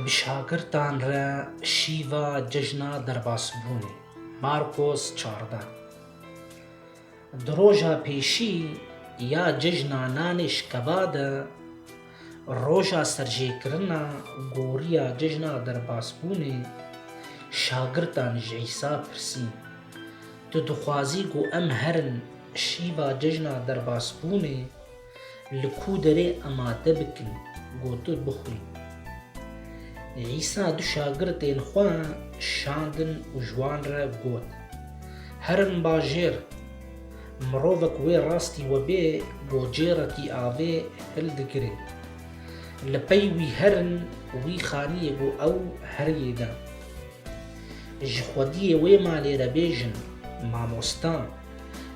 Bi şagirdan re şîva cejna derbasbûnê, Markos çardeh. Di roja pêşî ya cejna nanê şikeva de roja serjêkirina goriya cejna derbasbûnê şagirdan ji Îsa pirsîn, Tu dixwazî ku em herin şîva cejna derbasbûnê Li ku derê amade bikin ku tu bixwî. Îsa du şagirtên xwe şandin û ji wan re got, Herin bajêr. Mirovek wê rastî we bê gocêrekî avê hildigire. Li pey wî herin wî xaniyê ku ew heriyê de. Ji xwediyê wê malê re bêjin, Mamosta,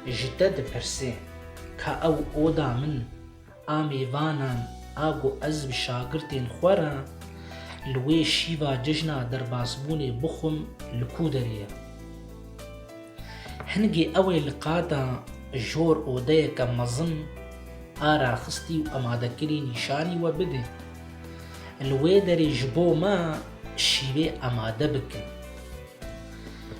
ji te dipirsê. Ka ew oda min a mêvanan a ku ez bi şagirtên xwe re li wê şîva cejna derbasbûnê bixwim li ku derê ye? Hingê ew ê li qata jor odeyeke mezin a raxistî û emadekirî nîşanî we bide. Li wê derê ji bo me şîvê emade bikin.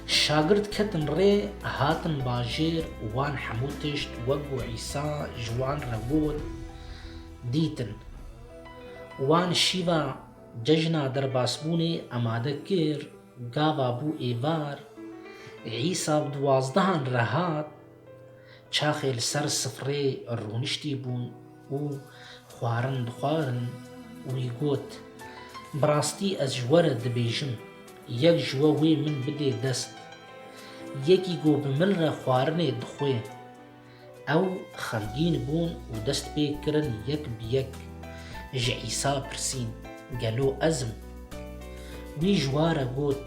Şagirt ketin rê hatin bajêr û wan hemû tişt wek ku Îsa ji wan re got, dîtin. Wan şîva cejna derbasbûnê amade kir, gava bû êvar, Îsa bi duwazdehan re hat, çaxê li ser sifrê rûniştî bûn, û xwarin dixwarin, wî got, Bi rastî ez ji we re dibêjim, yek ji we wê min bidê dest. Yekî ku bi min re xwarinê dixwe. Ew xemgîn bûn û dest pê kirin yek bi yek ji Îsa pirsîn, Gelo ez im? Wî ji wa re got,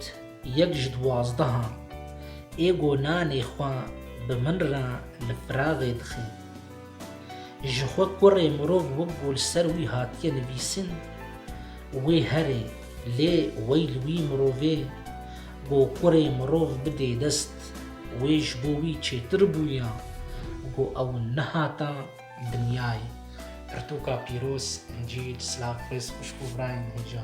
Yek ji duwazdehan, ê ku nanê xwe bi min re li piraxê dixin. Ji xwe kurê mirov wek ku li ser wî hatiye nivîsin, wê herê, lê wey li wî mirovê ku kurê mirov bidê dest, wê ji bo wî çêtir bûya ku ew nehata dinyayê. Pirtûka pîroz, Encîl, Silav Xwêz xwişk û birayên hêja.